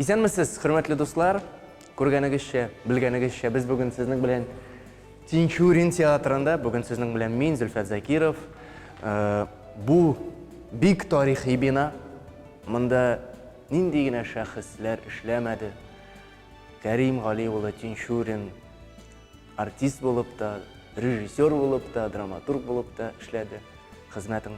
Исәнмесез, хөрмәтле дуслар! Күргәнегезчә, белгәнегезчә, без бүген сезнең белән Тинчурин театрында. Бүген сезнең белән мин, Зөлфәт Закиров. Бу бик тарихи бина. Монда нинди генә шәхесләр эшләмәде. Кәрим Гали улы Тинчурин артист булып та, режиссер булып та, драматург булып та эшләде. Хезмәтең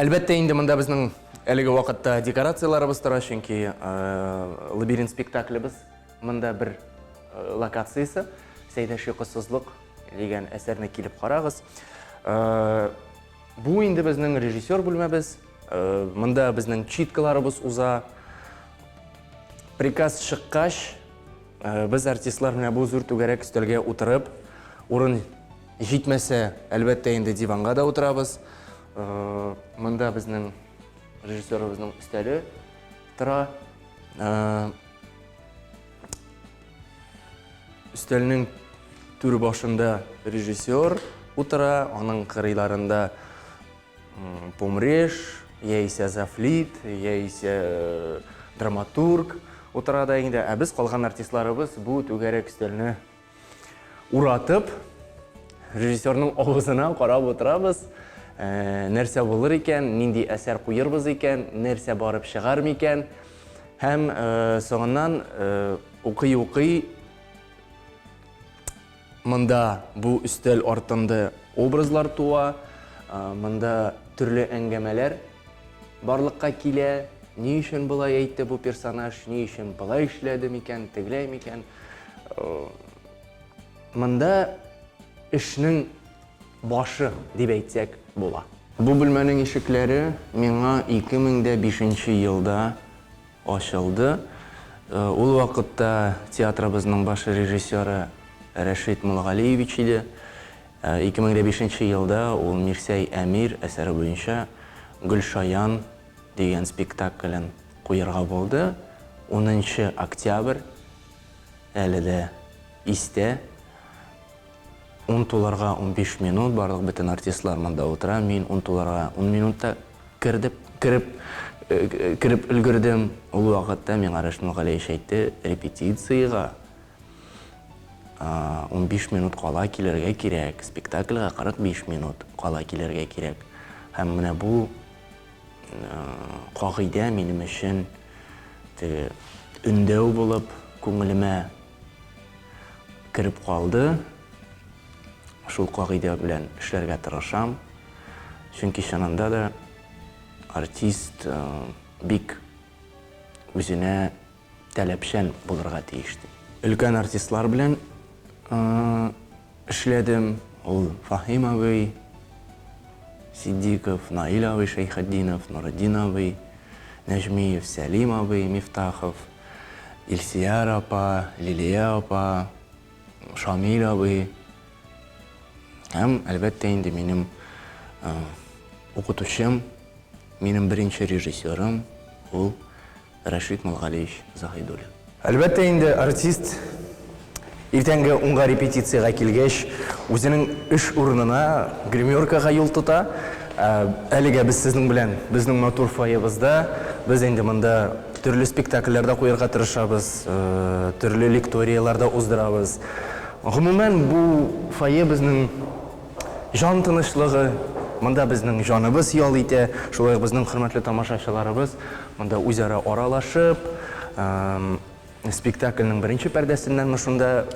Әлбәттә инде монда безнең әлеге вакытта декорацияләребез тора, чөнки лабиринт спектаклебез монда бер локациясе. Сәйдәш йокысызлык дигән әсәрне килеп карагыз. Бу инде безнең режиссер бүлмәбез. Монда безнең читкаларыбыз уза. Приказ чыккач, без артистлар менә бу зур түгәрәк өстәлгә утырып, урын Җитмәсә, әлбәттә инде диванга да утырабыз. Монда безнең режиссерыбызның өстәле тора. Өстәлнең түр башында режиссер утыра, аның кырыйларында помреш, яисә зафлит, яисә драматург утыра да инде. Ә без калган артистларыбыз бу түгәрәк өстәлне Уратып, режиссерның авызына карап утырабыз. Ә, нәрсә булыр икән, нинди әсәр куербыз икән, нәрсә барып чыгар микән? Һәм ә, соңыннан укый-укый ә, монда бу өстәл артында образлар туа, ә, монда төрле әңгәмәләр барлыкка килә. Ни өчен болай әйтте бу персонаж, ни өчен болай эшләде микән, тегеләй микән? Монда эшнең башы дип әйтсәк була. Бу бүлмәнең ишекләре миңа 2005 елда ачылды. Ул вакытта театрыбызның баш режиссеры Рәшит Муллгалиевич иде. 2005 елда ул Мирсәй Әмир әсәре буенча Гөлшаян дигән спектаклен куерга булды, унынчы октябрь, әле дә истә, ун тулырга унбиш минут, барлык бөтен артистлар монда утыра, мин ун тулырга ун минутта кердеп, кереп, кереп өлгердем, ул вакытта миңа Рәшит Мөгаләевич әйтте, репетициягә унбиш минут кала килергә кирәк, спектакльгә кырык биш минут кала килергә кирәк, һәм менә бу, Кагыйдә минем өчен теге өндәү булып күңелемә кереп калды. Шул кагыйдә белән эшләргә тырышам. Чөнки чынында да артист бик үзенә таләпчән булырга тиеш ди. Өлкән артистлар белән эшләдем. Ул Фаһим абый Ситдиков, Наил абый Шәйхетдинов, Нуретдин абый Нәҗмиев, Сәлим абый Мифтахов, Илсияр апа, Лилия апа, Шамил абый һәм, әлбәттә инде, минем укытучым, минем беренче режиссерым, ул Рәшит Нургалиевич Заһидуллин. Әлбәттә инде, артист, иртәнге унга репетициягә килгәч, үзенең эш урынына, гримеркага юл тота. Ә әлегә без сезнең белән безнең матур фойебызда. Без инде монда төрле спектакльләр дә куярга тырышабыз, төрле лекторияләр дә уздырабыз. Гомумән, бу фойе безнең Җан тынычлыгы, монда безнең җаныбыз ял итә, шулай ук безнең хөрмәтле тамашачыларыбыз монда үзара аралашып, спектакльнең беренче пәрдәсеннәнме шунда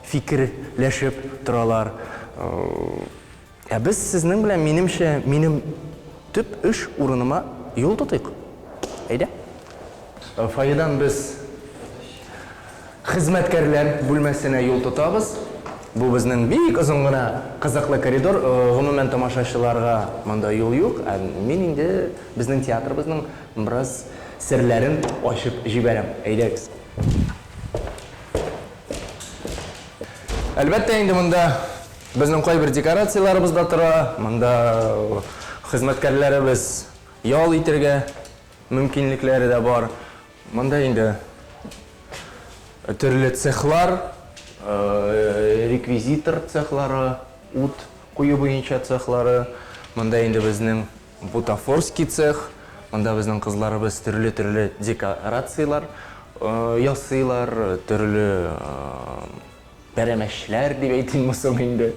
фикерләшеп торалар. Ә без сезнең белән, минемчә, минем төп эш урыныма юл тотыйк. Әйдә. Фойедан без. Хезмәткәрләр бүлмәсенә юл тотабыз. Бу безнең бик озын гына кызыклы коридор. Гомумән, тамашачыларга монда юл юк. Ә мин инде безнең театрыбызның бераз серләрен ачып җибәрәм. Әйдәгез. Әлбәттә инде, монда безнең кайбер декорацияләребез дә тора. Монда хезмәткәрләребез ял итәргә мөмкинлекләре дә бар. Монда инде төрле цехлар, реквизитор цехлары, ут кую буенча цехлары, монда инде безнең бутафорский цех, монда безнең кызларыбыз төрле-төрле декорацияләр ясыйлар, төрле пәрәмәчләр дип әйтимме соң инде,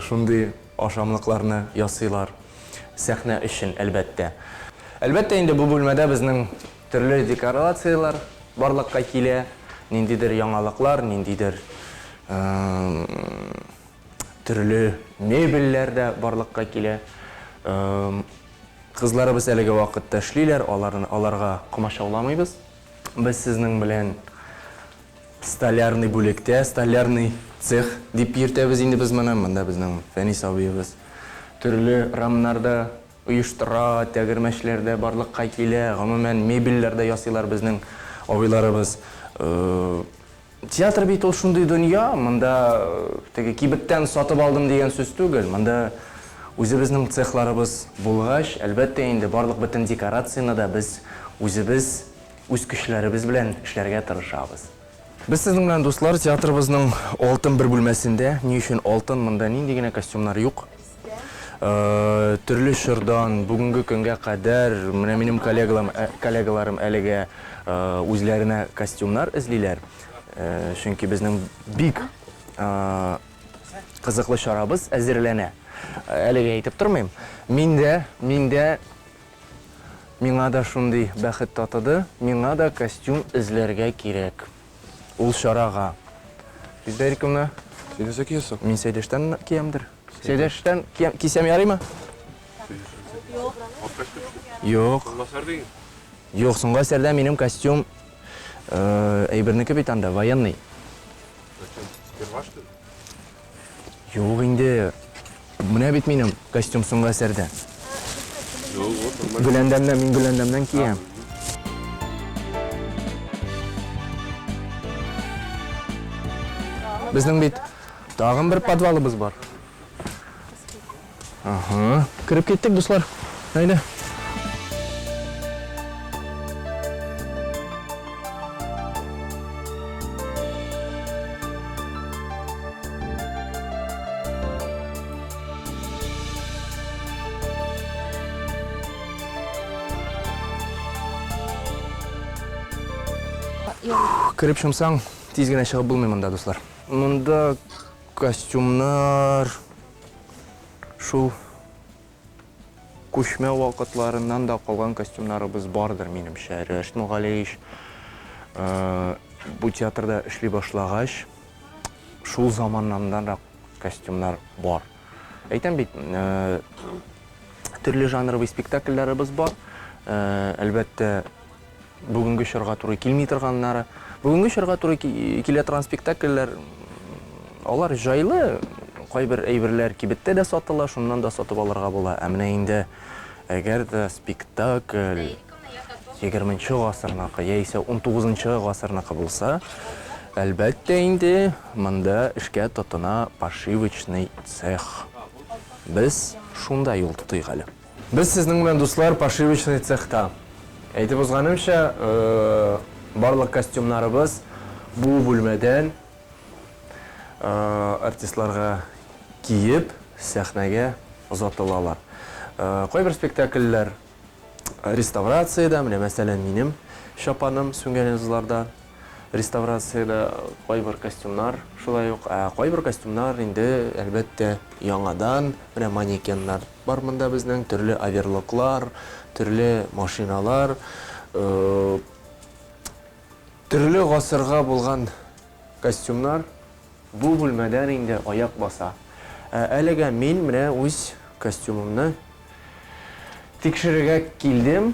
шундый. Ашамлыкларны ясыйлар. Сәхнә өчен, әлбәттә. Әлбәттә инде, бу бүлмәдә безнең төрле декорацияләр барлыкка килә. Ниндидер яңалыклар, ниндидер төрле мебельләр дә барлыкка килә. Кызларыбыз әлеге вакытта эшлиләр, аларны, аларга комачауламыйбыз. Без сезнең белән Столярный бүлектә, столярный цех дип йөртәбез инде без моны, монда безнең Фәнис абыебыз төрле рамнар да оештыра, тәгәрмәчләр дә барлыкка килә, гомумән, мебельләр дә ясыйлар безнең абыйларыбыз. Театр бит ул шундый дөнья, монда теге кибеттән сатып алдым дигән сүз түгел, монда үзебезнең цехларыбыз булгач, әлбәттә инде, барлык бөтен декорацияне дә без үзебез үз көчләребез белән эшләргә тырышабыз. Без сезнең белән, дуслар, театрыбызның алтын бер бүлмәсендә. Ни өчен алтын? Монда нинди генә костюмнар юк. Төрле чордан бүгенге көнгә кадәр менә минем коллегалам, коллегаларым әлегә үзләренә костюмнар эзлиләр. Чөнки безнең бик кызыклы чарабыз әзерләнә. Әлегә әйтеп тормыйм. Мин дә, мин дә. Миңа да шундый бәхет татыды, миңа да костюм эзләргә кирәк ул чарага. Бездә иркемне. Син нәрсә киясең? Мин Сәйдәштән киямдер. Сәйдәштән кисәм ярыймы? Юк. Юк, соңгы әсәрдә минем костюм әйбернеке бит анда, военный. Юк инде. Менә бит минем костюм соңгы әсәрдә. Гөләндәмнән, мин Гөләндәмнән киям. Безнең бит тагын бер подвалыбыз бар. Ага, кереп киттек, дуслар. Әйдә. Кереп чумсаң, тиз генә чыгып булмый монда, дуслар. Монда Костюмнар шул күчмә вакытларыннан да калган костюмнарыбыз бардыр, минемчә. Рәшит Мөгалеич бу театрда эшли башлагач, шул заманнаннанрак костюмнар бар. Әйтәм бит, төрле жанровый спектакльләребез бар. Әлбәттә, Бүгенге чорга туры килми торганнары. Бүгенге чорга туры килә торган спектакльләр, алар җайлы, кайбер әйберләр кибеттә дә сатыла, шуннан да сатып алырга була. Ә менә инде әгәр дә спектакль 20 гасырныкы яисә 19 гасырныкы булса, әлбәттә инде монда эшкә тотына пошивочный цех. Без шунда юл тотыйк әле. Без сезнең белән, дуслар, пошивочный цехта. Әйтеп узганымча, барлык костюмнарыбыз бу бүлмәдән артистларга киеп, сәхнәгә озатылалар. Кайбер спектакльләр реставрациядә, менә мәсәлән, минем чапаным Сүнгәнезларда реставрациядә, кайбер костюмнар шулай ук, ә кайбер костюмнар инде, әлбәттә, яңадан, менә манекеннар. Бар монда безнең төрле оверлоклар, төрле машиналар, төрле гасырга булган костюмнар бу бүлмәдән инде аяк баса. Ә әлегә мин менә үз костюмымны тикшерергә килдем.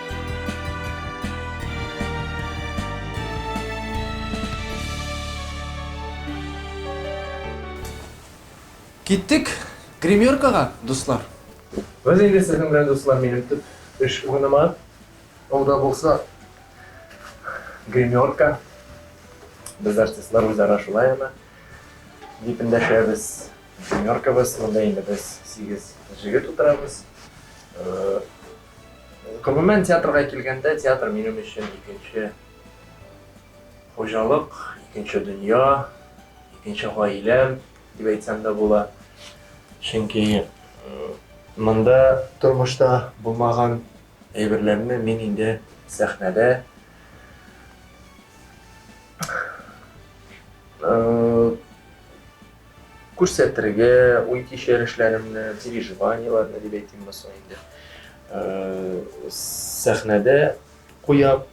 Киттек гримеркага, дуслар! Без инде сезнең белән, дуслар, минем төп эш урыныма, ул да булса, гримерка. Без, артистлар, үзара шулай аны дип эндәшәбез, гримеркабыз. Монда инде без сигез җегет утырабыз. Гомумән, театрга килгәндә, театр минем өчен икенче хуҗалык, икенче дөнья, икенче гаиләм дип әйтсәм дә була. Чөнки монда тормышта булмаган әйберләрне мин инде сәхнәдә Күрсәтергә, уй-кичерешләремне, переживаниеләрне дип әйтим булса инде. Сәхнәдә куям.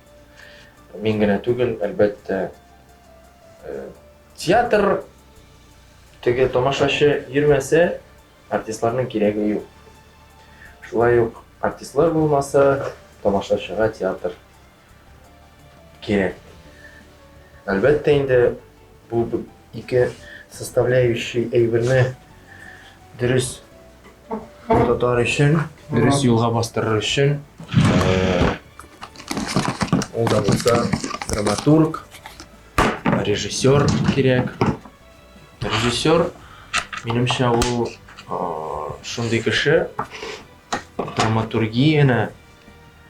Мин генә түгел, әлбәттә, театр теге тамашачы йөрмәсә, артистларның кирәге юк. Шулай ук артистлар булмаса, тамашачыга театр кирәк. Әлбәттә инде бу ике составляющий әйберне дөрес тотар өчен, дөрес юлга бастырыр өчен ул да булса драматург, режиссер кирәк. Режиссер, минемчә, ул шундый кеше, драматургияне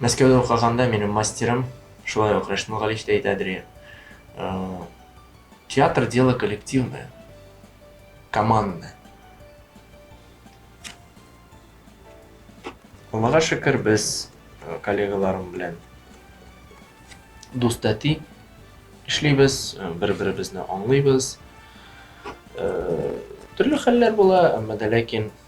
Мәскәүдә укыганда минем мастерым, шулай ук Рәшмул Галич тә әйтәдер иде. Э, театр дело коллективное, командное. Аллага шөкер, без э, коллегаларым белән дуст әти эшлибез, э, бер-беребезне аңлыйбыз. Төрле хәлләр була, әмма дә ләкин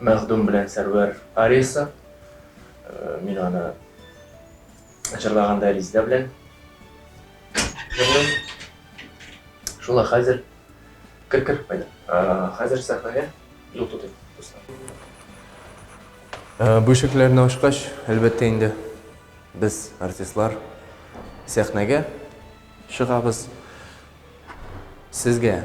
Мәхдүм белән Сәрвәр ариясы. Мин аны җырлаганда Ризда белән җырлыйм. Шулай хәзер кер кер кайда. Хәзер сәхнәгә юл тотыйм. Бу ишекләрне ачкач, әлбәттә инде, без, артистлар, сәхнәгә чыгабыз. Сезгә.